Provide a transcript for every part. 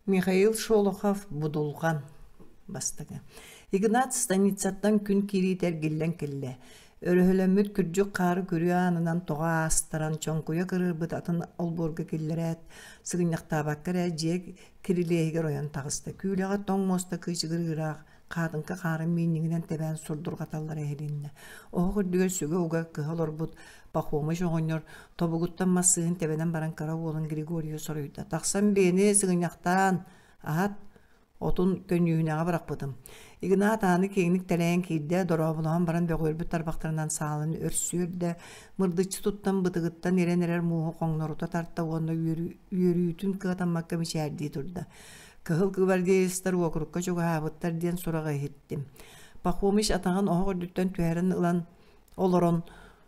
Михаил Шолохов Будулҕан бастакы Игнат станицаттан күн киириитэ эргиллэн кэллэ өрөһөлөммүт күрдьүк хаары күрүө аанынан тоҕо аастаран чоҥкуйа кырыырбыт атын олбуорга киллэрээт сыгынньахтаабакка эрэ дьиэ кирилиэһигэр ойон таҕыста күүлэҕэ тоҥ муоста кыычыгыр ыыраах Хаатыҥка хаарын мииннигинэн тэбээн сурдурҕаталлара иһилиннэ. Оһох үрдүгэр сүгэ уга кыһа олорбут Пахомыч оҕонньор тобугуттан массыынын тэбэнэн баран кыра уолун Григорийу соруйда. «Тахсан биэни сыгынньахтаан! Аһат! Отун көньүүһүнэҕэ бырахпытым». Игнат ааны киэҥник тэлэйэн киирдэ, дорооболоһон баран бөҕүөрбүт тарбахтарынан саалын өрсүөрдэ, мырдыччы туттан бытыгыттан ирэн эрэр мууһу хоҥнорута тарта уонна үөрүүтүн кыатаммакка мичээрдии турда. Кыһыл гвардеецтар уокурукка чугаһаабыттар диэн сураҕы иһиттим. Пахомич атаҕын оһох үрдүттэн түһэрин ылан олорон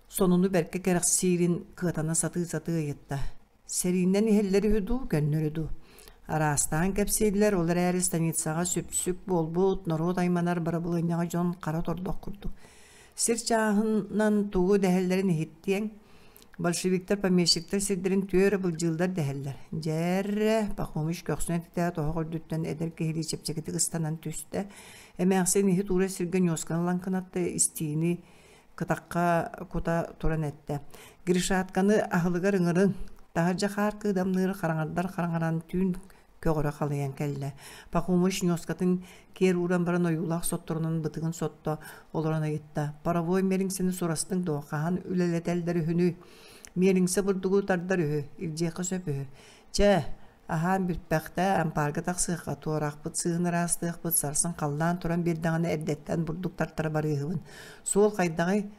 сонуну бэркэ кэрэхсиирин кыатана сатыы-сатыы ыйытта. Сэрииннэн иһэллэр үһү дуу, көннөрү дуу? Араастаан кэпсииллэр, ол эрээри станицаҕа сүпсүк буолбут, норуот айманар бырабылыанньаҕа дьон хара тордох курдук. Сир чааһынан тугу дэһэллэрин иһиттиэҥ. Большевиктар, помещиктар сирдэрин түөрэ былдьыыллар дэһэллэр. Дьэррэ, Пахомич көхсүнэн титээт оһох үрдүттэн эдэр киһилии чэпчэкитик ыстанан түстэ. Эмээхсин иһи туура сиргэ ньуосканы ылан кынатта истиини кытахха кута туран эттэ. Гришатканы аһылыгар ыҥырын, таһырдьа хаар кыыдамныыр хараҥардар хараҥаран түүн көҕөрө халыйан кэллэ. Пахомыч ньуоскатын киэр ууран баран ойуулаах сотторунан бытыгын сотто олорон ыйытта. «Паровой мириҥсини сурастыҥ дуо? Хаһан үлэлэтэллэр үһүнүй? Мириҥсэ бурдугу тардар үһү, илдьиэххэ сөп үһү. Чэ, аһаан бүтпэхтэ, ампаарга тахсыахха, туорахпыт сыыһын ыраастыахпыт, сарсын халлаан туран биэрдэҕинэ эрдэттэн бурдук тартара барыыһыбын. Суол хайдаҕый?»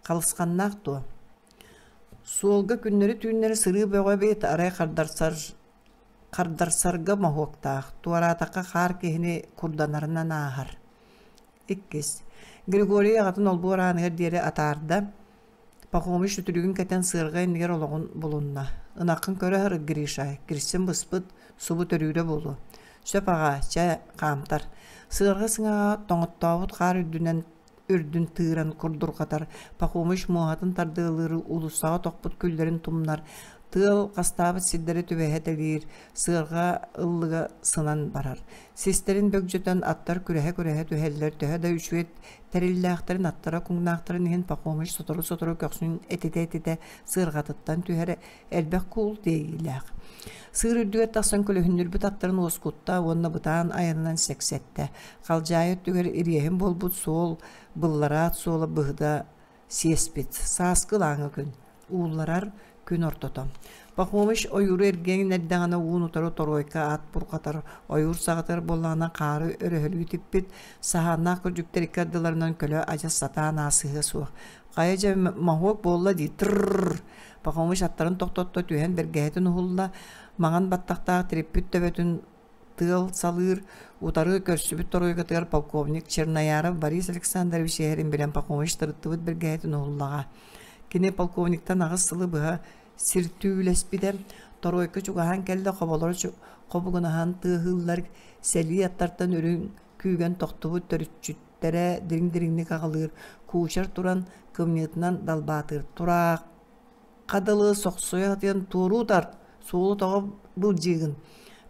Халысханнаах дуо? Суолга күннэри-түүннэри сырыы бөҕө эбит, арай хардарсар хардарсарга моһуоктаах, туораатахха хаар киһини курданарынан ааһар. Иккис. Григорий аҕатын олбуор ааныгар диэри атаарда. Пахомич сүтүрүгүн кэтэн сыарҕа иннигэр олоҕун булунна. Ынаххын көрө сыр, Гриша, кирсин быспыт, субу төрүүрэ буолуо. Сөп аҕаа, чэ, хаамтар. Сыарҕа сыҥаҕа тоҥоттообут хаар үрдүнэн үрдүн тыыран курдурҕатар, Пахомыч муоһатын тардыалыыры уулуссаҕа тохпут күллэрин тумнар, тыал хастаабыт сирдэри түбэһэ тэлиир, сыарҕа ыллыга сынан барар. Систэрин бөгдьөтөн аттар күрэһэ-күрэһэ түһэллэр, төһө да үчүгэй тэриллээхтэрин аттара куҥнаахтарын иһин Пахомыч сотору-сотору көхсүн этитэ-этитэ сыарҕатыттан түһэрэ элбэх куул тиэйиилээх. Сыыр үрдүгэр тахсан көлөһүннүрбүт аттарын уоскутта уонна бытаан айанынан сэксэттэ. Халдьаайы өттүгэр ириэһин буолбут суол, быллараат суола быһыта сиэспит. Сааскы ылааҥы күн. Уулларар күн ортото. Пахомыч ойууру эргиэн эрдэҕинэ уун утары торуойка аат бурҕатар, ойуур саҕатар буоллаҕына хаары өрөһөлүү типпит, саһааннаах кырдьыктар икки ардыларынан көлө адьас сатаан аасыһыа суох. Хайа дьэ моһуок буолла дии тырррр Пахомыч аттарын тохтотто түһэн бэргэһэтин уһулла, маҥан баттахтаах тириппит төбөтүн тыал салыыр, утары көрсүбүт торуйгатыгар полковник Чернояров Борис Александрович иһэрин билэн Пахомыч тырыттыбыт бэргэһэтин уһуллаҕа. Кини полковниктан аҕыс сылы быһа сир түүлэспитэ, торуойка чугаһаан кэллэ хоболоро хобугунаһан тыаһыыллар, сэлии аттартан үрүҥ күүгэн тохтубут төрүччүт тирээттэрэ дириҥ-дириҥник аҕалыыр кучер туран кымньыытынан далбаатыыр тураах дылы сохсуйа сатыан туоруу тар суолу тоҕо былдьыыгын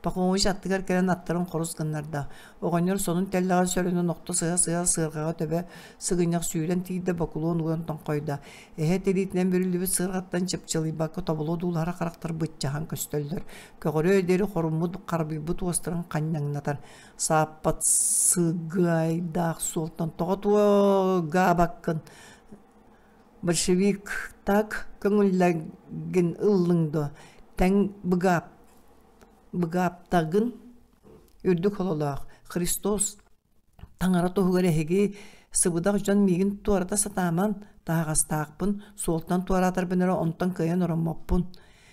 Пахомович аттыгар кэлэн аттарын хорус гыннарда. Оҕонньор сонун тэллэҕэр сөрөнөн охто сыһа-сыһа сыарҕаҕа төбө сыгынньах сүүрэн тиийдэ бокулуон уган тоҥхойдо. Эһэ тириитинэн бүрүллүбүт сыарҕаттан чыпчылыйбакка тоболо дуулаһара харахтар быччаһан көстөллөр. Көҕөрөө диэри хоруммут харбыйбыт уостарын ханньаҥнатар. сааппат сыгыайдаах суолтан тоҕо туо гаабаккын большевик так көҥүллэгин ыллыҥ дуо тэҥ быгаап быгааптагын үрдүк хололоох христос таҥара туһугар эһиги сыбыдах дьон миигин туората сатааман таһаҕастаахпын суолтан туораатарбын эрэ онтон кыайан ороммоппун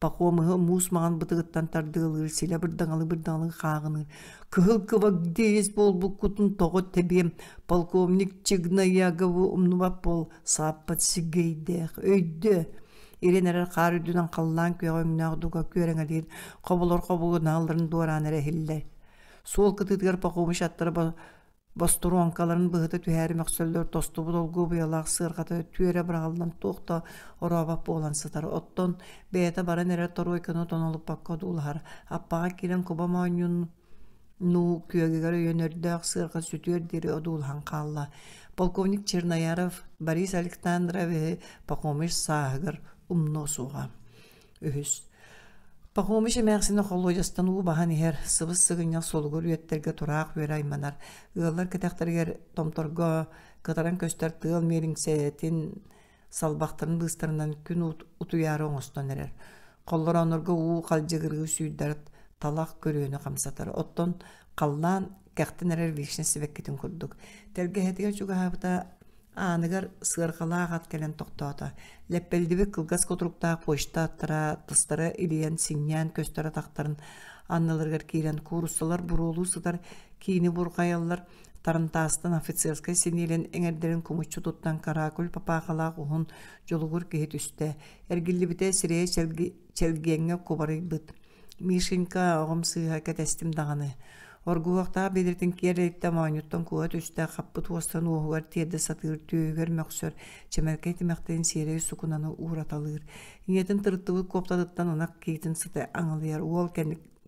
Пахомыһы муус маҕан бытыгыттан тардыалыыр, силэ бырдаҥалы бырдаҥалы хааҕыныыр. Кыһыл кыбагдиис буолбуккутун тоҕо тэбиэм, полковник Чигнаягову умнубат буол, сааппат сиггэйдээх, өйдөө. Ирин эрэр хаар үрдүнэн халлаан күөҕэ өҥнөөх дуга күөрэҥэлиир, хоболор хобугунаалларын дуораан эрэ иһиллэр. Суол кытыытыгар Пахомыч аттара Бостуруоҥкаларын быһыта түһээри мөхсөллөр тостубут олгуобуйалаах сыарҕата түөрэ быраҕыллан туох да орообот буолан сытар. Оттон бэйэтэ баран эрэр торуойканы тонолуппакка одуулаһар. Аппаҕа киирэн куба моонньун нуу күөгүгэр өйөн өрдөөх сыарҕа сүтүөр диэри одуулаһан хаалла. Полковник Чернояров Борис Александровиһы Пахомыш сааһыгар умнуо суоҕа. үһүс. Пахомич эмээхсин холуодьастан уу баһан иһэр, сыбыс-сыгынньах суолугар үөттэргэ тураах үөрэ айманар. Ыаллар кэтэхтэригэр томторго кытаран көстөр тыал миэлиҥсэтин салбахтарын быыстарынан күн утуйаары оҥостон эрэр. Холлорооннорго уу халдьыгырыы сүүрдэр талах көрүөнү хамсатар. Оттон халлаан кэхтэн эрэр вишня сибэккитин курдук. Тэлгэһэтигэр чугаһаабыта ааныгар сыарҕалаах ат кэлэн тохтоото. Лэппэлдибит кылгас кутуруктаах почта аттара, тастара илийэн, синньээн көстөрө тахтарын анналарыгар киирэн кууруссалар буруолуу сытар, киини бурҕайаллар, Тарантаастан офицерскай синиэлэн эҥэрдэрин кумуччу туттан каракуль папаахалаах уһун дьулугур киһи түстэ. Эргиллибитэ сирэйэ чэлги чэлгиэҥҥэ кубарыйбыт. Мишенька оҕом сыыһа кэтэстим даҕаны. Оргуһуохтаах билиртин киэрэйтэ моонньуттан куһа түстэ хаппыт уостан уоһугар тиэрдэ сатыыр түөһүгэр мөхсөр чэмэркэй тимэхтэрин сиэрэй сукунаны уураталыыр. Ийэтин тырыттыбыт куоптатыттан ынах киитин сыты аҥылыйар уол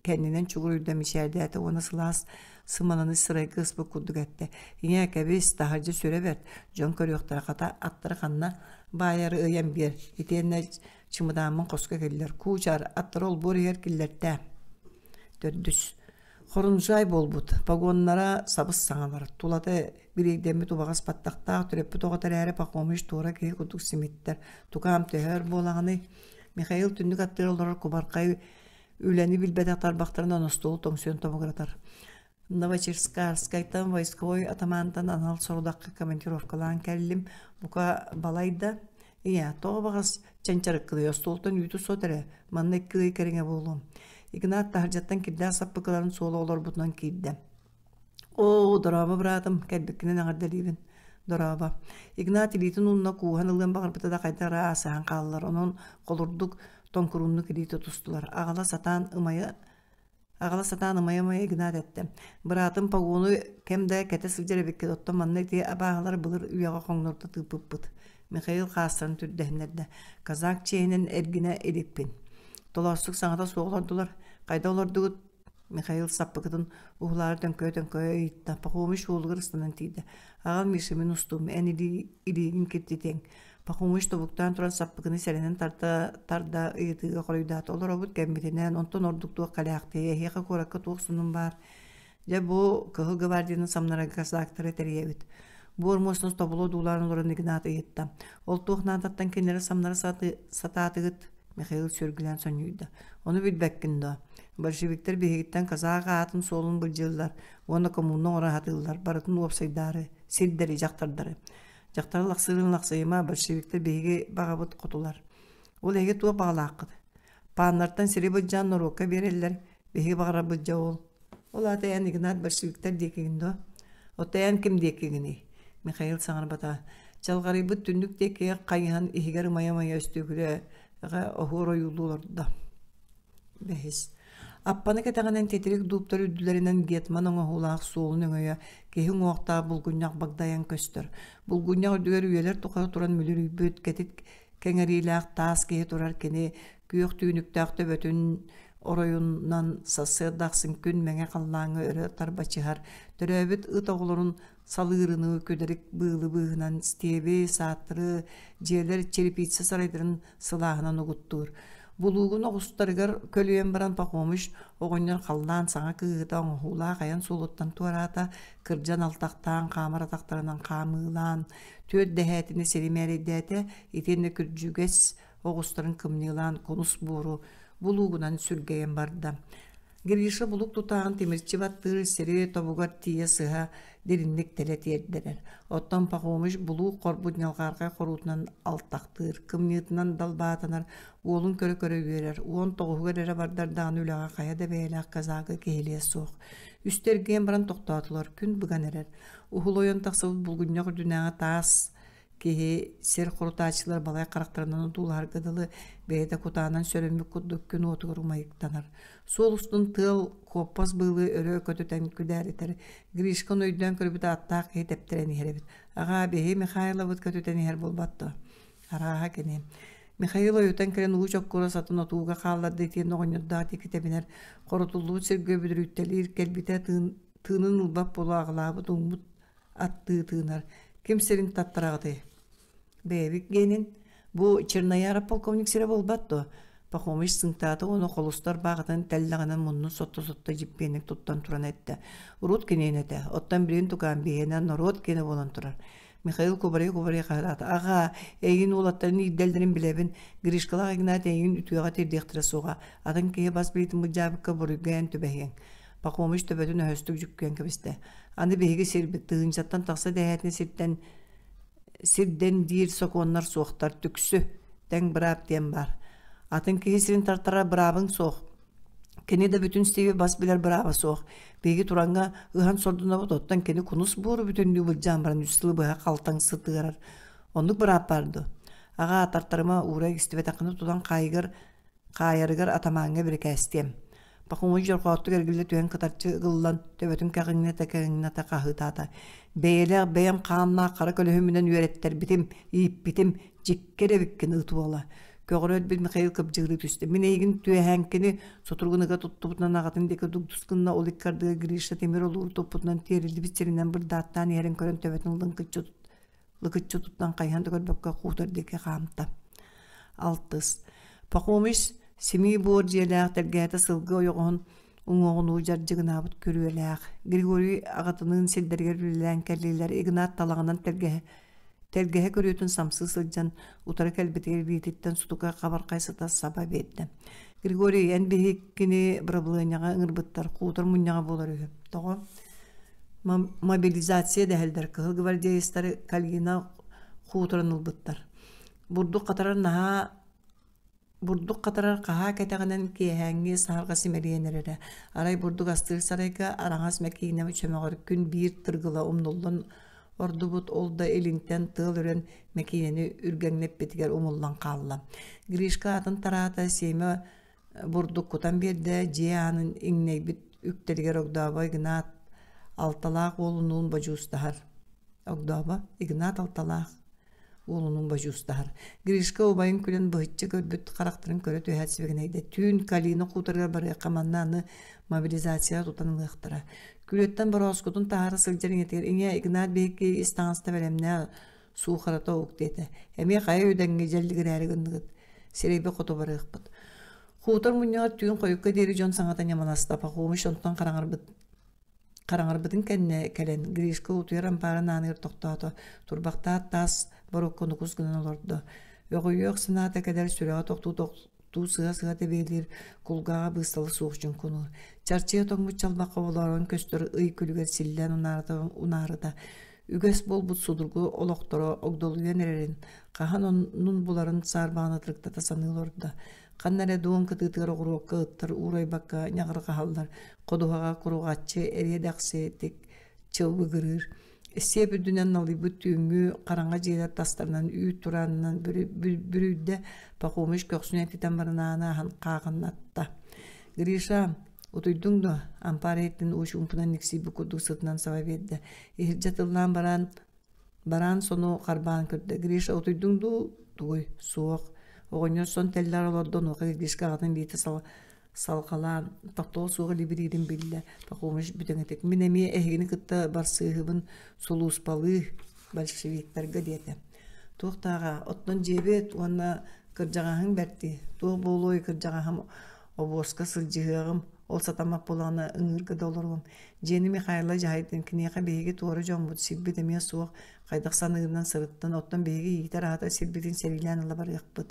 кэннинэн чугуруйда мичээрдээтэ уона сылаас сымананы сырайга ыспыт курдук эттэ ийээ кэбис таһырдьа сүрэ бэрт дьон көрүөхтэрэ хата аттары ханна баайары ыйан биэр итиэннэ чымыдааммын хоско кэллэр кучар аттара олбуоругар киллэртэ төрдүс хорунжай буолбут погоннара сабыс саҥалар тулата бириэйдэммит убаҕас паттахтаах төрөппүт оҕото эрээри пахомич туора киһи курдук симиттэр тукаам төһөр буолаҕыный михаил түннүк аттыгар олорор кубархай үлэни билбэтэх тарбахтарын оностуолу тоҥсуйан тобугуратар Новочерскайтан войсковой атамаантан анал сорудахка командировкалаан кэллим. Бука балайда ийэ тоҕо баҕас чанчарыккылый остуолтан үүтү сот эрэ манна иккилей кэриҥэ буолуом. Игнат таһырдьаттан кирдээх саппыкыларын суола олорбутунан киирдэ. Оо, дорооба быраатым, кэлбиккинэн аҕардалиирин. Дорооба. Игнат илиитин уунна кууһан ылыан баҕарбыта да хайдара аасаһан хааллар. Онон холурдук тоҥкурууннук илиитэ тустулар. Аҕала сатаан ымайа Аҕала сатаан ымайа-ымайа гынаад эттэ. Быраатым погону кэм да кэтэ сылдьар эбиккит, оттон манна ити абааһылар былыр үйэҕэ хоҥнорто тыыппыппыт. Михаил хаастарын түрдэһиннэрдэ. Казак чиэһинэн эргинэ иликпин. Толоосук саҥата суох олордулар. Хайда олордугут? Михаил саппыкытын уһулаары төҥкөйө-төҥкөйө ыйытта. Пахомич уолугар ыстанан тиийдэ. Аҕам Миша мин устум, эн илии, илиигин киртитиэҥ. Пахомыч тобуктаан туран саппыкыны сэрэнэн тарда, тарда ыйытыыга хоруйдаата. Олоробут кэмбитинэн, онтон ордук туох кэлээхтиэй, эһиэхэ куоракка туох сонун баар. Дьэ бу Кыһыл гвардияны самнарарга касаактары тэрийэбит. Бу ормуостан тобулу одуулаан олорон Игнат ыйытта. Ол туох наадаттан кинилэри самнара сатаатыгыт? Михаил сүргүлээн сонньуйда. Ону билбэккин доо? Большевиктэр биһигиттэн казак аатын суолун былдьыллар уонна коммуна оҥоро сатыыллар, барытын уопсайдаары, сирдэри дьахтардары. Дьахтары лахсыырын лахсыйыма, большевиктар биһиги баҕабыт хотулар. Ол эһиги туох баҕалааххыт? Пааннартан сири быдьаан норуокка биэрэллэр, биһиги баҕарабыт дьэ ол. Ол аата эн Игнат большевиктар диэкигин дуо? Отто эн ким диэкигиний? Михаил саҥарбата. Чалҕарыйбыт түннүк диэки хайыһан иһигэр умайа-умайа өстүгүрэ, оһуор ойуулуу олордо. Бэһис. Аппаны кэтэҕинэн титирик дууптар үрдүлэринэн гетман оҥоһуулаах суолун өҥөйө киһи уҥуохтаах булгунньах багдайан көстөр. Булгунньах үрдүгэр үйэлэр тухары туран мүлүрүйбүт кэтит кэҥэриилээх таас киһи турар кини күөх түүнүктээх төбөтүн оройунан сарсыарда ахсын күн мэҥэ халлааҥҥа өрө тарбачыһар төрөөбүт ыт оҕолорун салыырыныы күдэрик быылы быыһынан стиэби, сааттыры, дьиэлэр черепица сарайдарын сылааһынан угуттуур. Булуугун оҕустарыгар көлүйэн баран Пахомыч оҕонньор халлаан саҥа кыыһыта оҥоһуулаах айан суолуттан туораата, кырдьан алтахтаан, хаамар атахтарынан хаамыылаан, түөрт дэһээтини сири мээрэйдээтэ, итиэннэ күрдьүгэс оҕустарын кымньыылаан кунус буору булуугунан сүргэйэн барда. Гриша булук тутаан тимирчи баттыыр сири тобугар тиийэ сыһа дириҥник тэлэ тиэрдэрэр. Оттон Пахомыч булуук хорбут ньалҕаархай хоруутунан алтахтыыр, кымньыытынан далбаатанар, уолун көрө-көрө үөрэр, уон тоҕуһугар эрэ бардар даҕаны үлэҕэ хайа да бэйэлээх казага киһилиэ суох. Үстэргээн баран тохтоотулар, күн быган эрэр. Уһул ойон тахсыбыт булгунньах үрдүнээҕи таас Киһи сир хорутааччылар балай харахтарынан одуулаһарга дылы, бэйэтэ кутаанан сөрөммүт курдук күн уотугар умайыктанар. Суол устун тыал куоппас быылы өрө көтүтэн күдээритэр. Гришканы өйдөөн көрбүт ааттаах киһи тэптэрэн иһэр эбит. Аҕаа, биһи Михайлабыт көтүтэн иһэр буолбатто. Арааһа кини. Михаил ойутан кэлэн ууч оккура сатын отууга хаалларда итиэн оҕонньордоох диэки тэбинэр. Хоротуллубут сиргэ бүдүрүттэлиир кэлбитэ тыын, тыынын ылбат буолу аҕалаабыт ууммут аттыы тыынар. Ким сирин таптараҕытый? Бэйэбит генин бу Чернояра полковник сирэ буолбат дуо? Пахомыч сынтаата уону холустар баҕатын тэллэҕинэн муннун сотто-сотто дьиппиэнник туттан туран эттэ. Урут киниэн этэ. Оттон билин тукаан биһиэнэ норуот кинэ буолан турар. Михаил Кубарей-Кубарей хаһыраата. Аҕа, эйигин уолаттарын иирдэллэрин билэбин. Гришкалаах Игнат эйигин үтүөҕэ тиэрдиэхтэрэ суоҕа. Атын киһи бас билитин быдьаабыкка буруйга эн түбэһиэҥ. Пахомыч төбөтүн өһөстүк жүккүөн кэбистэ. Аны биһиги сирбит тыһыынчаттан тахса дэһээтин сиртэн сирдэн диир сокуоннар суохтар түксү тэҥ быраап диэн баар. Атын киһи сирин тартара быраабын суох. Кини да бүтүн Стиви бас билэр бырааба суох. Биһиги туранга ыһан сордунабыт, оттон кини кунус буору бүтүннүү былдьаан баран үстілі быһа қалтаң сытыарар. Оннук быраап барды. Аға тартарыма уура истибетэқыны тутан қайығыр, қайырығыр атаманға бірекәстем. Пакумуч дьорҕооттук эргиллэ түһэн кытарчы ыгыллан, төбөтүн кэҕиҥнэтэ-кэҕиҥнэтэ хаһыытаата. Бэйэлээх бэйэм хааннаах хара көлөһүмүнэн үөрэттэрбитим, ииппитим, дьиккэ эрэбиккин ыт уола. Көҕөрөөт Михаил кыбдьыырыы түстэ. Мин эйигин түөһээҥкини сутургун ыга туттубутунан аҕатын диэки дугдус гынна, ол иккардыга Гриша тимир олуур туппутунан тиэриллибит сиринэн бырдааттаан иһэрин көрөн төбөтүн лыҥкыччы лыкыччы туттан хайыһан да көрбөккө хуутар диэки хаамта. Алтыс. Пахомич симии буор дьиэлээх тэлгээтэ сылгы ойоҕоһун уҥуоҕунуу дьардьыгынаабыт күрүөлээх. Григорий аҕатыныын сирдэригэр үлэлээн кэллилэр Игнат талаҕынан тэлгэһэ тэлгэһэ көрүөтүн самсыы сылдьан утары кэлбитигэр биититтэн сутука хабархай сыта саба биэрдэ. Григорий эн биһиккини бырабылыанньаҕа ыҥырбыттар хуутар мунньаҕа буолар үһү. Тоҕо? мобилизация дэһэллэр кыһыл гвардеецтары калина хуторун ылбыттар бурдук хатарар наһаа бурдук хатарар хаһаа кэтэҕинэн киэһээҥҥи саһарҕа симэлийэн эрэрэ арай бурдук астыыр сарайга араҥас мэкиинэ чөмөҕөр күн биир тыргыла умнуллан ордубут ол да илинтэн тыал үрэн мэкиинэни үргэҥнэппитигэр умуллан хаалла гришка атын тараата сиэмэ бурдук кутан биэрдэ дьиэ аанын иҥнэйбит үктэлигэр огдообой игнат алталаах уолунуун бодьуустаһар огдообо игнат алталаах уолунуун бодьуустаһар гришка убайын күлэн быһычча көрбүт харахтарын көрө түһээт сибигинэйдэ түүн калина хуторыгар барыахха манна аны мобилизацияҕа тутан ылыахтара күрүөттэн борооскутун таһара сылдьар ийэтигэр ийэ игнат биһикки ис таҥаста бэлэмнээх суухарата ук диэтэ эмиэ хайа үдэҥҥэ дьэллигирээри гынныгыт сирэйбэ хоту барыахпыт хуутар мунньаҕар түүн хойукка диэри дьон саҥата ньаманаста пахомич онтон хараҥарбыт хараҥарбытын кэннэ кэлэн Гришка утуйар ампаарын ааныгар тохтоото турбахтаат таас боруокка нукус гынан олордо өҕүйүөх санаата кэлэр сүрэҕэ тохтуу туу сыа-сыата биэлиир кулгааҕа быыстала суох дьуҥкунуур чарчыйа тоҥмут чалбах хоболоорун көстөр ый күлүгэр силлээн унаарыта үгэс буолбут судургу олохторо огдолуйан эрэрин хаһан оннун буларын саарбаҕаны ытырыктата саныы олордо ханна эрэ дуон кытыытыгар оҕуруокка ыттар уурайбакка ньаҕырҕаһаллар ходуһаҕа куруҕаччы эриэ дэхси тик чылбыгырыыр сиэп үрдүнэн налыйбыт түүҥҥү хараҥа дьиэлэр тастарынан үүт тураанынан бүрүйдэ пахомыч көхсүн этитэн барынааны аһан хаахынатта гриша утуйдуҥ дуо ампаар иһиттин уучумпунан никсийбит курдук сытынан саба биэрдэ иһирдьэ тыллаан бараан бараан сону харбаан көрдө гриша утуйдуҥ дуу тугуй суох оҕонньор сон тэллэр олордо онуоха гришка аҕатын биитэ сала салҕалаан тохтоҕо суох либириирин биллэ пахомыш бүтэҥэтик мин эмиэ эһигини кытта барсыыһыбын сулууспалыы большевиктарга диэтэ туох тааҕа оттон дьиэбит уонна кырдьаҕаһыҥ бэрти туох буолуой кырдьаҕаһым обуоска сылдьыһыаҕым ол сатаммат буолаҕына ыҥыырга да олоруом дьиэни михайла дьаһайдын киниэхэ биһиги туора дьоммут сирбит эмиэ суох хайдах саныырынан сырыттан оттон биһиги иитэр аһатар сирбитин сэриилээн ыла барыахпыт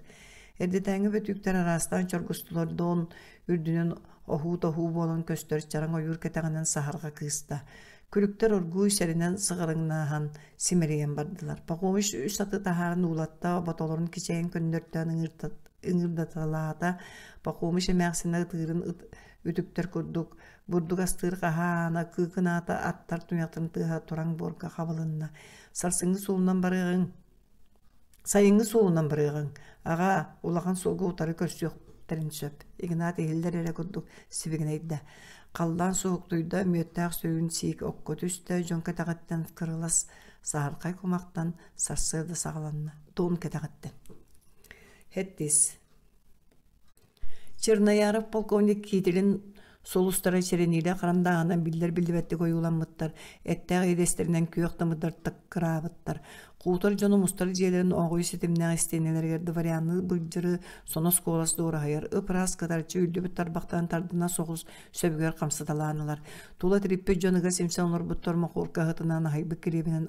Эрдэтээҥи бөтүүктэр араастаан чоргустулардаон үрдүнэн оһуу-тоһуу буолан көстөр чараҥ ойуур кэтэҕинэн саһарҕа кыыста. Күлүктэр оргууй сэринэн сыҕарыҥнааһан, симэлийэн бардылар. Пахомич үс аты таһааран уулатта, ботолорун кичэйэн көннөртөөн ыҥырдаталаата. Пахомич эмээхсинэ ытыырын үтүктэр курдук, бурдук астыыр хаһаана, кыыкынаата аттар туйахтарын тыаһа тураҥ буорга хабылынна. Сарсыҥҥы суолунан барыаҕыҥ Сайыҥҥы суолунан барыаҕыҥ. Аҕаа, улахан суолга утары көрсүөхтэрин сөп. Игнат иһиллэр эрэ курдук сибигинэйдэ. Халлаан соһуктуйда, мүөттээх сөүн сиик окко түстэ, дьон кэтэҕиттэн кырылас саһархай кумахтан сарсыарда саҕаланна. Туом кэтэҕиттэн. Хэттис Чернояров полковник Киитилин Сулустара сэрэниилээх харандааһынан биллэр-биллибэттик ойууламмыттар, эттээх идэстэринэн күөх тымырдартан кыраабыттар. Куутар дьону мустар дьиэлэрин оҕуйу ситимнээх истиэнэлэригэр дворянныы былдьыры, сонос куолас дуораһайар, ып-ыраас кытарчы үллүбүт тарбахтарын тардына соҕус сөбүгэр хамсаталаанылар. Тула тириппит дьон ыга симсэн олорбуттар мохуорка аһытынан аһайбыт килиэбинэн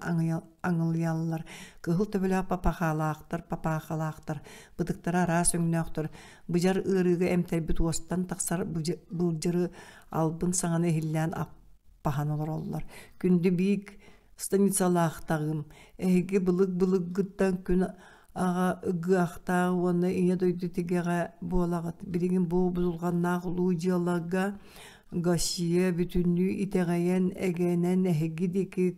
аҥылыйаллар. Кыһыл төбөлөөх папахалаахтар, папахалаахтар. Ытыктара араас өҥнөөхтөр. Быдьар ыарыыга эмтэрбит уостан тахсар былдьыры албын саҥаны иһиллээн аппаһан олороллор. Күндү биик станицалаахтаҕым, эһиги былык-былыггыттан күн аҕа ыгыахтаах уонна ийэ дойду тигэҕэ буолаҕыт. Билигин бу бузулҕаннаах улуу дьыалага Гассия бүтүннүү итэҕэйэн, эгэнэн эһиги диэки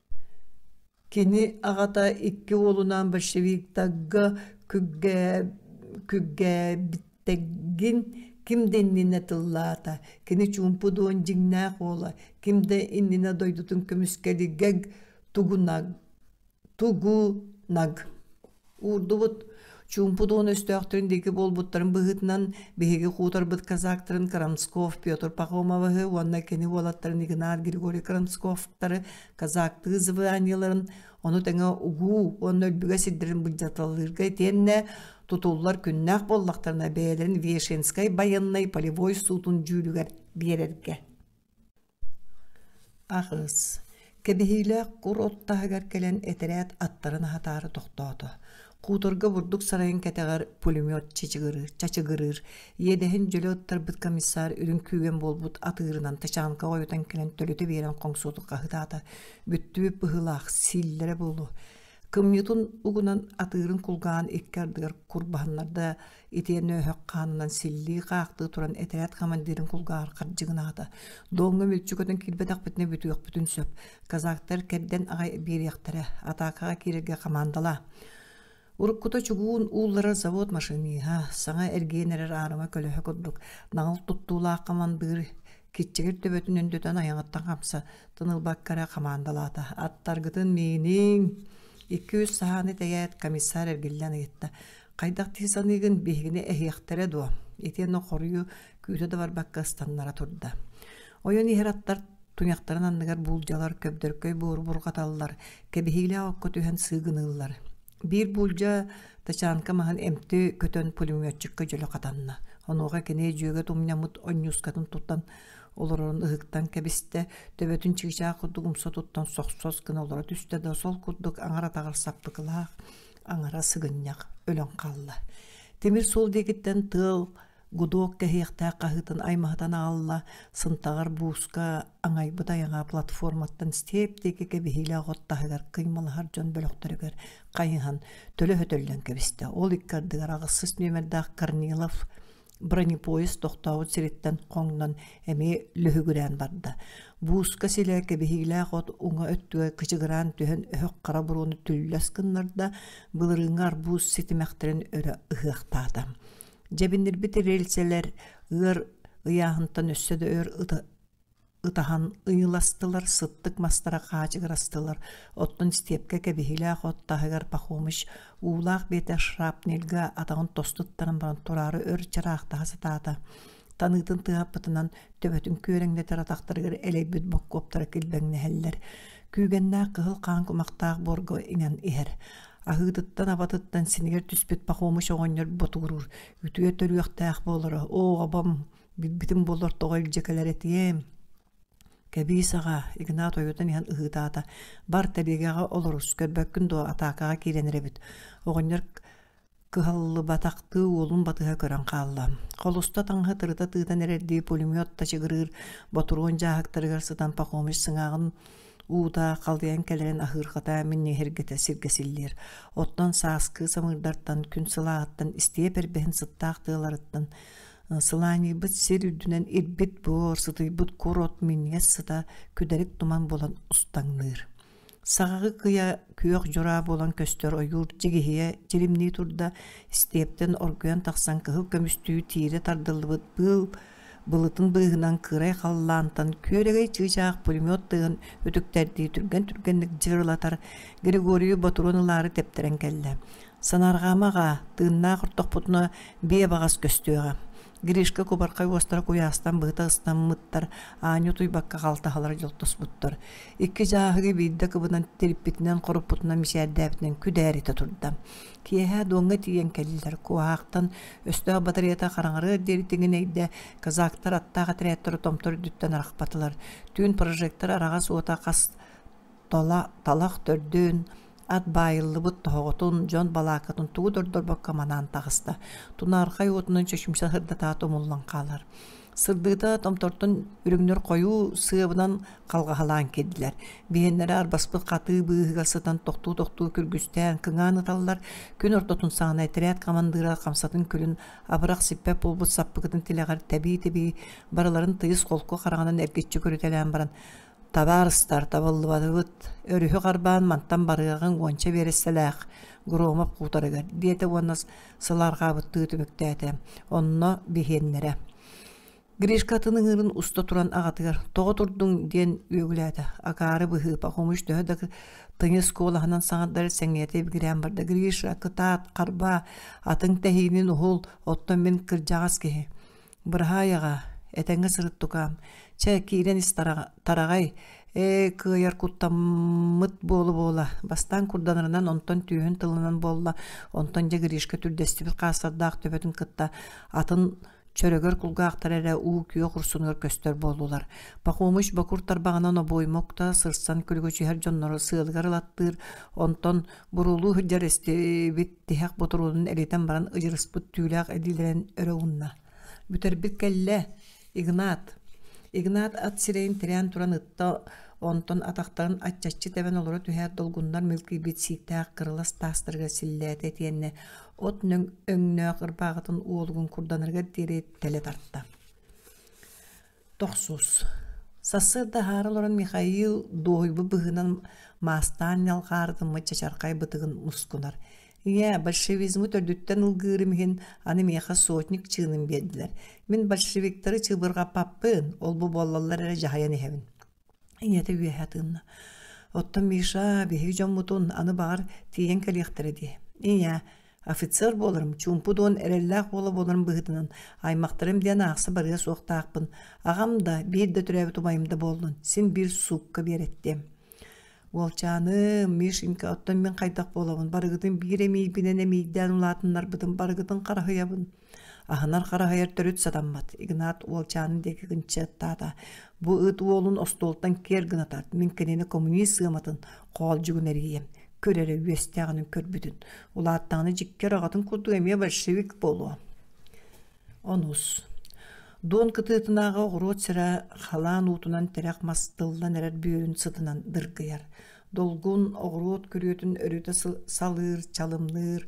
Кини аҕата икки уолунаан большевиктарга күргээбиттэргин ким да иннинэ тыллаата, кини чуумпу дуон дьиҥнээх уола, ким да иннинэ дойдутун көмүскэлигэр тугунаг уурдубут чуумпу туһун өстөөхтөрүн диэки буолбуттарын быһыытынан биһиги хуутарбыт казактарын Крамсков Петр Пахомовы уонна кини уолаттарын Игнар Григорий Крамсковтары казактыы званиеларын ону тэҥэ угуу уонна өлбүгэ сирдэрин быдьаталлыырга итиэннэ тутуллар күннээх буоллахтарына бэйэлэрин Вешенскай байыаннай полевой суутун дьүүлүгэр биэрэргэ Аҕыс, кэбиһиилээх кур от таһыгар кэлэн этэрээт аттарын аһатаары тохтоото. Куторга бурдук сарайын кэтэҕэр пулемет чачыгырыыр, чачыгырыыр. Иэдэһин дьөлө оттарбыт комиссар үрүҥ күүгэн буолбут атыырынан тачанка ойутан кэлэн төлөтө биэрэн хоҥсуотукка ыһытаата. Бүттүбүт быһыылаах, сииллэрэ буолуо. Кымньытын угунан атыырын кулгаан икки ардыгар курбаһыннарда итиэннэ өһөх хаанынан силлии-хаахтыы туран этэрээт командирын кулгааҕар хардьыгынаата. Дооҥҥо мүлчү көтөн киирбэтэхпитинэ бүтүөхпүтүн сөп. Казактар кэрдэн аҕай биэриэхтэрэ. Атаакаҕа киирэргэ хамаандалаа. Уруккута чугуун уулларар завод машиниһа, саҥа эргийэн эрэр аарыма көлөһө курдук, наҕыл туттуулаах командир киччигир төбөтүн өндөтөн айаҕыттан хамса тынылбакка эрэ хамаандалаата аттаргытын мииниҥ икки-үс саһааны тэгээт комиссар эргиллэн ыйытта хайдах дии саныыгын биһигини эһиэхтэрэ дуо итиэннэ хоруйу күүтэ да барбакка ыстаннара турда ойон иһэр аттар туйахтарын анныгар буулдьалар көбдөркөй буору бурҕаталлар кэбиһиилээх окко түһэн сыыгыныыллар Биир буулдьа тачанка маһын эмти көтөн пулеметчикка дьөлө хатанна. Онуоха кини дьүөгөт умньаммыт онньуускатын туттан олорорун ыһыктан кэбистэ, төбөтүн чыычаах курдук умса туттан сохсос гына олоро түстэ да сол курдук аҥар-атаҕар саппыкылаах, аҥара сыгынньах өлөн хаалла. Тимир суол диэкиттэн тыал гудок кэһиэхтээх хаһыытын аймаһытан аалла сынтаҕар бууска аҥайбыт айаҥа платформаттан степ диэки кэбиһиилээх от таһыгар кыймалаһар дьон бөлөхтөрүгэр хайыһан төлө хөтөллөн кэбистэ ол икки ардыгар аҕысчыс нүөмэрдээх корнилов бронепоезд тохтообут сириттэн хоҥнон эмиэ лүһүгүрээн барда бууска силэ кэбиһиилээх от уҥа өттүгэ кычыгыраан түһэн өһөх хара буруону түллэс гыннарда былырыыҥҥы арбуз ситимэхтэрин өрө ыһыахтаата Дьэбинирбит рельсэлэр ыар ыйааһынтан өссө да өр ыта ытаһан ыйыластылар, сыттык мастара хаачыгырастылар. Оттон степка кэбиһилээх от таһыгар Пахомыч уулаах биэтэ шрапнельга атаҕын тостуттаран баран тураары өр чараахтаһа сатаата. Таныытын тыһаппытынан төбөтүн күөрэҥнэтэр атахтарыгар элэйбит боккуоптара килбэҥнэһэллэр. Күүгэннээх кыһыл хаан кумахтаах буорга иҥэн иһэр. аһыытыттан-абатыттан синигэр түспүт Пахомыч оҕонньор ботугуруур үтүө төрүөхтээх буолара оо абам билбитим буоллар тоҕо илдьэ кэлэр этиэм кэбиис аҕа игнат ойутан иһэн ыһыытаата бар тэбиэгэҕэ олорус көрбөккүн дуо атаакаҕа киирэн эрэбит оҕонньор кыһаллыбатахтыы уолун батыһа көрөн хаалла. Холуста таҥаһы тырыта тыытан эрэрдии пулемет тачыгырыыр ботуруон дьааһыктарыгар сытан Пахомич сыҥааҕын уута халыйан кэлэрин аһыырхата минньиһиргэтэ сиргэсиллиэр. Оттон сааскы самыырдартан күн сылааҕыттан истиэ пербэһин сыттаах тыаларыттан сылааньыйбыт сир үрдүнэн ирбит буор сытыйбыт кур от минньиэс сыта күдэрик туман булан устаҥныыр. Саҕаҕы кыйа күөх дьураа буолан көстөр ойуур дьигиһийэ дьилимнии турда, истиэптэн оргуйан тахсан кыһыл көмүстүү тиирэ тардыллыбыт быыл былытын быыһынан кыырай халлаантан күөрэгэй чыычаах пулемет тыгын үтүктэрдии түргэн-түргэнник дьырылатар Григорий ботуруон ылаары тэптэрэн кэллэ. «Санаарҕаама аҕаа, тыыннаах ортохпутуна бие баҕас көстүөҕэ» Гришка кубархай уостара куйаастан быһыта ыстаммыттар, аанньа утуйбакка халтаһалара дьолтоспуттар. Икки дьааһыгы биирдэ кыбынан тириппитинэн хоруппутунан мичээрдээбитинэн күдээритэ турда. Киэһэ дуоҥҥа тиийэн кэллилэр. Куоһаахтан өстөөх батареята хараҥарыар диэри тиҥинэйдэ, казактар аттаах отрядтары томтор үрдүттэн арахпатылар. Түүн прожектор араҕас уота хас тола, талах төрдүн, ат баайыллыбыт тоһоҕотун, дьон балаакатын тугу да ордорбокко манаан таҕыста. Тунаархай уотунан чөчүмсэ сырдатаат умуллан хаалар. Сырдыыта томтортон үрүҥнэр хойуу сыабынан халҕаһалаан киирдилэр. Биһэннэрэ арбаспыт хатыы быыһыга сытан тохтуу-тохтуу күргүстээн кыҥаан ыталлар, күн ортотун саҕана этэрээт командира хамсатын күлүн абырах сиппэт буолбут саппыкытын тилэҕэр тэбии-тэбии барыларын тыйыс холку хараҕынан эргиччи көрүтэлээн баран Табаарыстар, табыллыбатыбыт, өрүһү харбаан мантан барыаҕыҥ уонча биэрэссэлээх Громов куутарыгар, диэтэ уонна сыл арҕаабыттыы түмүктээтэ. Онно биһиэннэрэ Гришка атын ыҥыырын уста туран аҕатыгар «Тоҕо турдуҥ?» диэн үөгүлээтэ. Акаары быһыыпа, хомуч төһө да тыйыс куолаһынан саҥардар сэҥээрэ ибигирээн барда. «Гриша, кытаат, харбаа, атыҥ тэһиинин уһул, оттон мин кырдьаҕас киһи» Быраһаайаҕа, этэҥҥэ сырыттукаам, чэ, киирэн ис тараҕай, ээ, кыайар куттаммыт буола-буола, бастаан курданарынан, онтон түөһүн тылынан буолла, онтон дьэ Гришка түрдэстибит хаастардаах төбөтүн кытта атын чөрөгөр кулгаахтар эрэ уу-күөх урсунугар көстөр буоллулар. Пахомыч бокур тарбаҕынан обоймокто сырсан күлүгүчүһэр дьоннору сыалыгар ылаттыыр, онтон Бурулуу сылдьар истибит тиһэх ботуруунун элитэн баран ыдьырыспыт түүлээх эдиилэрин өрө уунна. Бүтэрбит кэллэ, Игнат. Игнат ат сирэйин тирээн туран ытта, онтон атахтарын аччаччы тэбэн олоро түһээт долгуннар мөлкүйбүт сииктээх кырылас таастарыгар силлээтэ итиэннэ от өҥнөөх ырбааҕытын уолугун курданарыгар диэри тэлэ тарта. Тохсус Сарсыарда аһаары олорон Михаил дуоһуйбут быһыынан маастаан ньалҕаары гыммыт чачархай бытыгын мускунар. Ийээ, большевизмы төрдүттэн ылгыырым иһин аны миэхэ сотник чыыным биэрдилэр. Мин большевиктары чыбырҕаппаппын, ол-бу буоллаллар эрэ дьаһайан иһэбин ийэтэ үөһэ атыынна. Оттон Миша биһиги дьоммутун аны баҕар тиийэн кэлиэхтэрэ дии. Ийээ, офицер буоларым, чуумпудуон эрэллээх уола буоларым быһыытынан аймахтарым диэн аахса барыа суохтаахпын. Аҕам да, биир да төрөөбүт убайым да буоллун, син биир суукка биэрэттиэм. Уолчааным, Мишенька, оттон мин хайдах буолабын? Барыгытын биир эмиийбинэн эмиийдээн улаатыннарбытым, барыгытын хараһыйабын. Аһынар-хараһыйар төрүт сатаммат. Игнат уолчааны диэки кынчыаттаата. Бу ыт уолун остуолтан киэр гынатар. Мин кинини коммунист сыаматын хоолдьугун эрийиэм. Көр эрэ үөстээҕинин көрбүтүн. Улааттаҕына дьиккэ ораҕатын курдук эмиэ большевик буолуо. Онус. Дуон кытыытынааҕы оҕуруот сирэ халаан уутунан тирэх мас тыллан эрэр бүөрүн сытынан дыргыйар. долгун оҕуруот күрүөтүн өрүтэ салыыр чалымныыр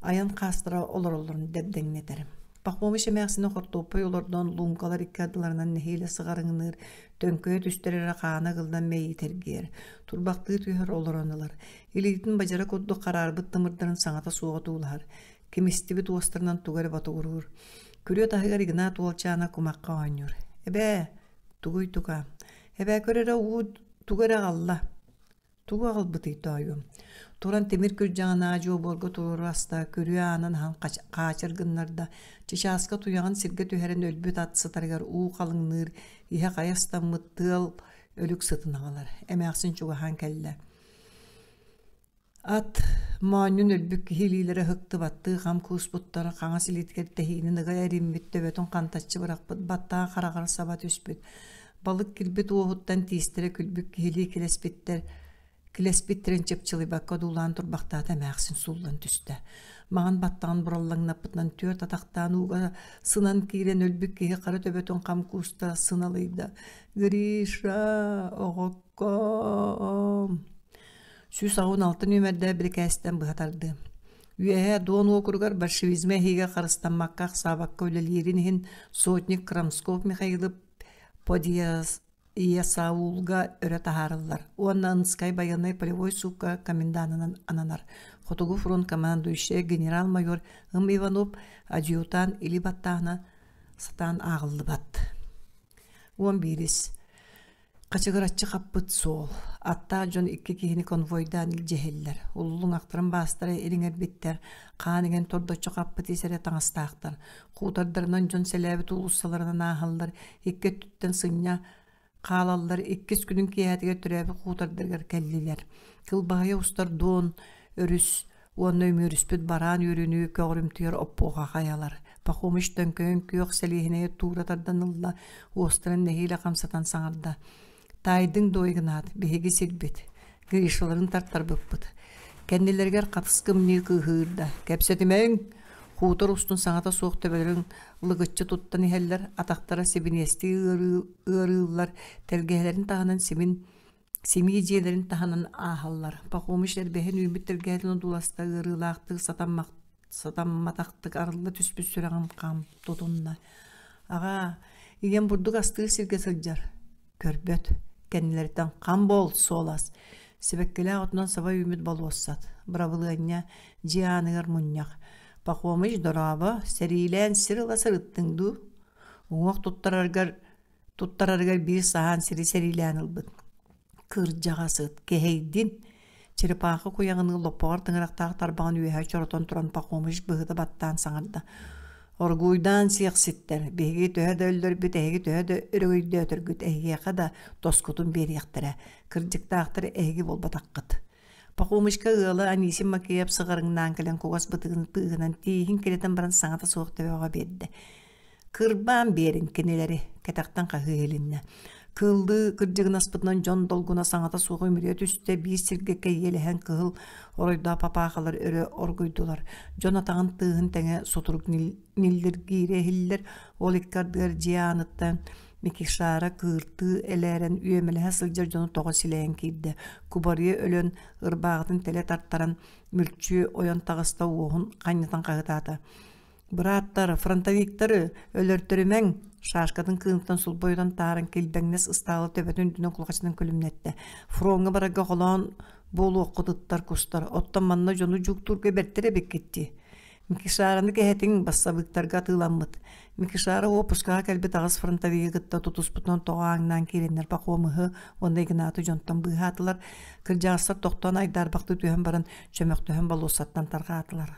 айан хаастара олороллорун дэбдэҥнэтэр пахомич эмээхсини хортуоппай олордон луумкалар икки ардыларынан нэһиилэ сыҕарыҥныыр төҥкөйө түстэр эрэ хаана ыгыллан мэйиитэргиэр турбахтыы түһэр олорон ылар илиитин бадьара курдук хараарбыт тымырдарын саҥата суоҕа туулаһар кимистибит уостарынан туга эрэ ботугуруур күрүө таһыгар игнат уолчаана кумахха оонньуур эбээ тугуй тука Эбэкөрөрө уут тугу эрэ аҕалла. Тугу аҕалбытый тоойуом? Туран тимир күрдьэҕин аа-дьуо буорга туруору аста, күрүө аанын аһан хаачыр гыннарда, чычааска туйаҕын сиргэ түһэрэн өлбүт ат сытарыгар уу халыҥныыр иһэ хайа ыстаммыт тыал өлүк сытын аҕалар. Эмээхсин чугаһаан кэллэ Ат моонньун өлбүт киһи илиилэрэ ыһыктыбаттыы хам кууспуттара хаҥас илиитигэр тэһиинин ыга эриммит төбөтүн хантаччы бырахпыт баттаҕа хараҕар саба түспүт балык кирбит уоһуттан тиистэрэ күлбүт киһилии килэспиттэр килэспиттэрин чыпчылыйбакка одуулаан турбахтаата эмээхсин сууллан түстэ маҥан баттаҕын бураллаҥнаппытынан түөрт атахтаан ууга сынан киирэн өлбүт киһи хара төбөтүн хам кууста сыналыйда гриша оҕоккоом сүүс аҕыс алты нүөмэрдээх бирикээстэн быһа тардыы. Үөһэ Дуон уокуругар большевизмы эһиигэ харыстаммакка ахсаабакка үлэлиирин иһин сотник Крамсков Михаилов Подиесаулга өрө таһаарыллар уонна Ынскай байыаннай полевой суукка комендантынан ананар. Хотугу фронт командующай генерал-майор Ым Иванов адъютан или баттаана сатаан ааҕыллыбат. Он бирис. Хачыгыраччы хаппыт суол. Аттаах дьон икки киһини конвойдаан илдьиһэллэр. Уллуҥ ахтаран баастара ириҥэрбиттэр, хаан иҥэн тордоччу хаппыт ис эрэ таҥастаахтар. Куутардарынан дьон сэлээбит уулуссаларынан ааһаллар, икки өттүттэн сынньа хаалаллар, иккис күнүн киэһэтигэр төрөөбүт куутардарыгар кэллилэр. Кылбаһыйа устар дуон, өрүс, уонна үмүрүспүт бараан үөрүнүү көҕөрүмтүйэр оппуоха хайалар пахомич төҥкөйөн күөх сэлиэһинэйэ туура тарданылла уостарын нэһиилэ хамсатан саҥарда таайдыҥ дуой гынаат биһиги сирбит гришаларын тартарбыппыт кэннилэригэр хатыскымныы кыыһыырда кэпсэтимэҥ хутор устун саҥата суох төбөлөрүн лыгыччы туттан иһэллэр атахтара сибиниэстии ыарыыллар тэлгэһэлэрин таһынан симин Симии дьиэлэрин таһынан ааһаллар. Пахомич эрбэһин үүммүт тэлгээтин одууласта ыарыылаахтык сатаммат сатамматахтык арылла түспүт сүрэҕим хаам тутунна. Аҕаа, ийэм бурдук астыыр сиргэ сылдьар. Көрбөт, кэннилэриттэн хам буол суолас. Сибэккилээх отунан саба үүммүт болуоссат. Бырабылыанньа дьиэ ааныгар мунньах. Пахомич дорообо, сэриилээн сир ыла сырыттыҥ дуу? Уҥуох туттараргар Туттарарыгар биир саһаан сири сэриилээн ылбыт. Кырдьаҕас ыт, кэһэйдин, черепаха куйаҕыныы лоппоҕор тыҥырахтаах тарбаҕын үөһэ чоротон туран Пахомыч быһыта баттаан саҥарда. Оргууйдаан сиэхситтэр, биһиги төһө да өллөрбүт, эһиги төһө да өрөгөйдөөтөргүт, эһиэхэ да тоскутун биэриэхтэрэ, кырдьыктаахтары эһиги буолбатаххыт. Пахомычка ыала Анисим Макеев сыҕарыҥнаан кэлэн кугас бытыгын тыыһынан тииһин кирэтэн баран саҥата суох төбөҕө биэрдэ. Кырбаан биэрин кинилэри кэтэхтэн хаһыы иһилиннэ. Кыллыы кырдьыгынаспытынан дьон долгуна саҥата суоҕа үмүрүйэ түстэ, биир сиргэ кэйиэлэһэн кыһыл оройдоох папаахалар өрө оргуйдулар. Дьон атаҕын тыаһын тэҥэ сутурук ниллиргиирэ иһиллэр, ол икки ардыгар дьиэ ааныттан Микишара кыыртыы элээрэн үөмэлэһэ сылдьар дьону тоҕо силэйэн киирдэ. Кубарыйа өлөн, ырбаахытын тэлэ тартаран, мүлчү ойон таҕыста уоһун ханньытан хаһытаата. Бырааттар, фронтовиктары өлөртөрүмэҥ! Шашкатын кыынтан сулбойутан тааран килбэҥнэс ыстаалы төбөтүн үрдүнэн кулҕачынан күлүмнэттэ. Фроҥҥа барарга холоон буолуоххутуттар кустар, оттон манна дьону дьууктуурга бэртэрэ эбиккиттии. Микишараны кэһэтиҥ, бассабыыктарга атыыламмыт. Микишара уоппускаҕа кэлбит аҕыс фронтовига кытта тутуспутунан тоҕо ааҥнаан киирэннэр Пахомыһы уонна Игнаты дьонтон быыһаатылар. Кырдьаҕастар тохтоон айдаарбахты түһэн баран, чөмөхтөһөн болуоссаттан тарҕаатылар.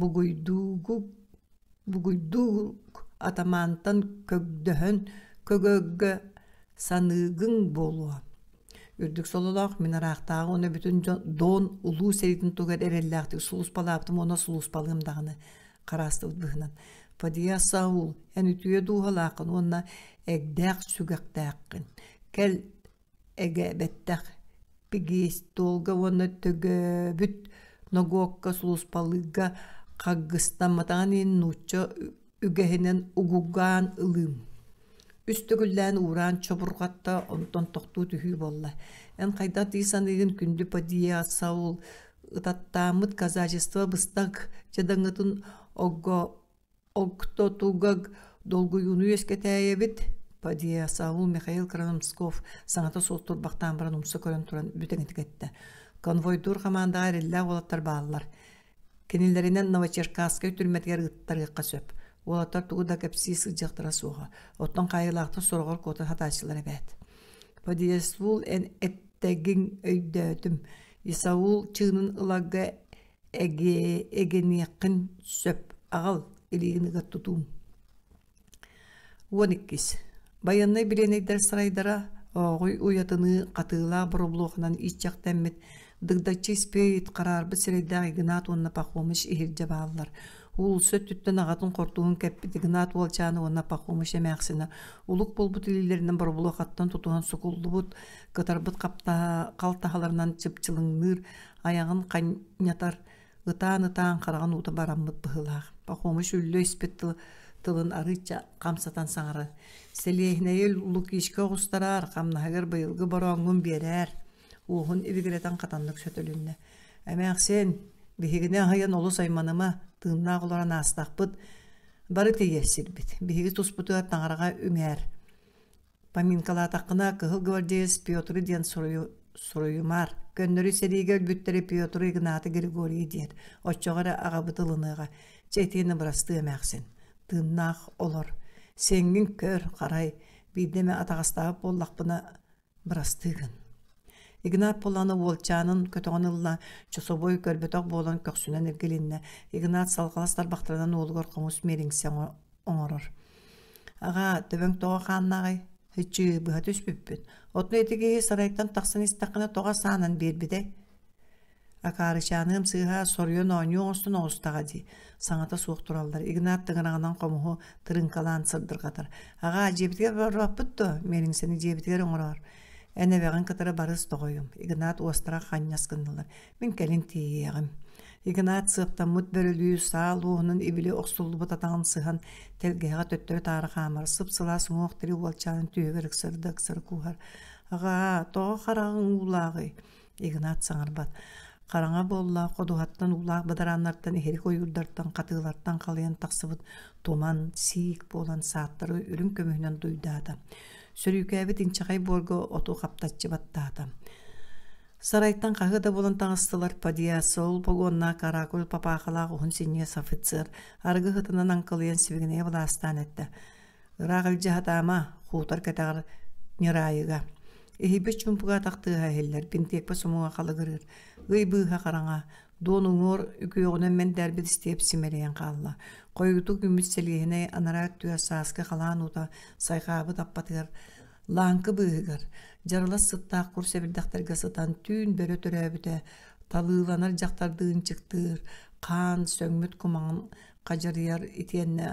бугуйдуугук бугуйдуугук атамаантан көрдөһөн көгөөггө саныыгыҥ буолуо үрдүк сололоох мин ыраахтааҕы уонна бүтүн дьон Доон улуу сэриитин тугар эрэллээхтик сулууспалаабытым уонна сулууспалыам даҕаны хараастыбыт быһынан подия саул эн үтүө дууһалааххын уонна эгдээх сүгэхтээххин кэл Эгээбэттэх пегиэстолга уонна Төгээбүт ногуокка сулууспалыырга хаггыстамматаҕын иһин нуучча үгэһинэн угугаан ылыым. Үс төгүллээн уураан чобурҕатта онтон тохтуу түһүү буолла. Эн хайдах дии саныыгын күндү падиаса ол ытаттааммыт казачество быстах дьадаҥытын огго Октотугаг долгуйууну үөскэтээйэбит, подъясавул Михаил Крамсков саҥата суох турбахтаан баран умса көрөн туран бүтэҥитик эттэ. Конвойдуур хамаандаҕа эрэллээх уолаттар бааллар. Кинилэринэн Новочеркасскай түрмэтигэр ыттарыахха сөп. Уолаттар тугу да кэпсии сылдьыахтара суоҕа. Оттон хаайыылаахтар сороҕор куотан сатааччылар эбээт. Подъясвул эн эттэгиҥ өйдөөтүм. Исаул чыынын ылагга эгиниэххин сөп аҕал илиигиныгар тутуум уон иккис байыаннай бириэнэйдэр сарайдара ооҕуй уйатыныы хатыылаах боробулуоханан иччэхтэммит дыгдаччы испиит хараарбыт сирэйдээх игнат уонна пахомыч иһирдьэ бааллар уулусса өттүттэн аҕатын хортууһун кэппит игнат уолчаана уонна пахомыч эмээхсинэ улук буолбут илиилэринэн боробулуохаттан тутуһан сукуллубут кытарбыт халтаһаларынан чыпчылыҥныыр айаҕын ханньатар ытаан-ытаан хараҕын уута бараммыт быһыылаах пахомыш үллэ испит тыл тылын арыычча хамсатан саҥарар сэлиэһинэйи лукишка оҕустарар хамнаһыгар быйылгы борооҥҥун биэрээр уоһун ибигирэтэн хатаннык сөтөлүннэ эмээхсин биһигини аһыйан олус айманыма тыыннаах олорон аастахпыт бары тиийэр сирбит биһиги туспутугар таҥараҕа үмээр Поминкалаатаххына кыһыл гвардеец Петр диэн суруйу, суруйумаар. Көннөрү сэриигэ өлбүттэрэ Петр Игнаты Григорий диэн. Оччоҕо эрэ аҕабыт ылыныаҕа. Чэ итиэнэ бырастыы эмээхсин. Тыыннаах олор. Сеҥҥин көр, харай. Биирдэ эмэ атаҕастаабыт буоллахпына бырастыы гын. Игнат Полланов уолчаанын көтөҕөн ылла, чособой көрбөтөх буолан көхсүнэн иргилиннэ. Игнат салҕалас тарбахтарынан уолугар хомус миэриҥсэ оҥорор. Аҕа, төбөҥ тоҕо хааннаҕай? Һыччыы быһа түспүппүт. Отну ити киһи сарайтан тахсан истэххинэ тоҕо саанан биэрбитэй? Акаарычааныам сыыһа соруйан оонньуу оҥостон оҕустаҕа дии. Саҥата суох тураллар. Игнат тыҥыраҕынан хомуһу тырыҥкалаан сырдырҕатар. Аҕаа, дьиэбитигэр барбаппыт дуо? Миэлиҥсэни дьиэбитигэр оҥороор. Эн эбэҕин кытары барыс тоҕойум. Игнат уостара ханньас гыннылар. Мин кэлин тиийиэҕим. Игнат сыаптаммыт бөрөлүү саал уоһунан ибили охсуллубут атаҕын сыһан, тэлгэһэҕэ төттөрү-таары хаамар сып-сылаас уҥуох тири уолчаанын түөһүгэр ыксары-ыксары кууһар. «Аҕаа, тоҕо хараҕыҥ уулааҕый?» Игнат саҥарбат. Хараҥа буоллаах ходуһаттан уулаах бадарааннартан иһирик ойуурдартан хатыылартан халыйан тахсыбыт туман, сиик буолан сааттары үрүҥ көмүһүнэн дуйдаата. Сөрүүкээбит инчэҕэй буорга оту хаптаччы баттаата. Сарайтан хаһы да булан таҥастылар подъясол погоннаах каракуль папаахалаах уһун синьиэс офицер аргы хытынан аңкылыйан сибигинэйэ былаастаан эттэ. Ыраах илдьэ хатаама, хуутар кэтэҕэр ньыраайыга. Иһийбит чумпуга тахтыыһа иһиллэр, бинтиэкпэ сумуга халагырыыр. Ый быыһа хараҥа, дуон уҥуор үкүөҕүнэн мэндээрбит истиэп симэлийэн хаалла. Хойутук үмүт сэлиэһинэй анараа түө сааскы халаан уута сайҕаабыт аппатыгар Лааҥкы быыһыгар дьарылас сыттаах кур сэбирдэхтэргэ сытан түүн бөрө төрөөбүтэ, талыыланар дьахтардыы ынчыктыыр, хаан, сөҥмүт кумаҕын хадьарыйар итиэннэ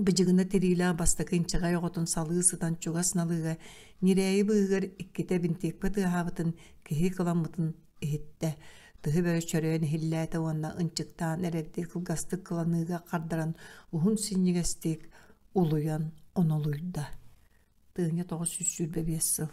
быдьыгына тириилээх бастакы инчэҕэй оҕотун салыы сытан чугас налыыга ньирээйи быыһыгар иккитэ бинтиэкпэ тыаһаабытын киһи кыламмытын иһиттэ. Тыһы бөрө чөрөйөн иһиллээтэ уонна ынчыктаан эрэрдии кылгастык кыланыыга хардаран уһун синньигэстик улуйан онолуйда. Тыыня тоҕус сүүс сүүрбэ биэс сыл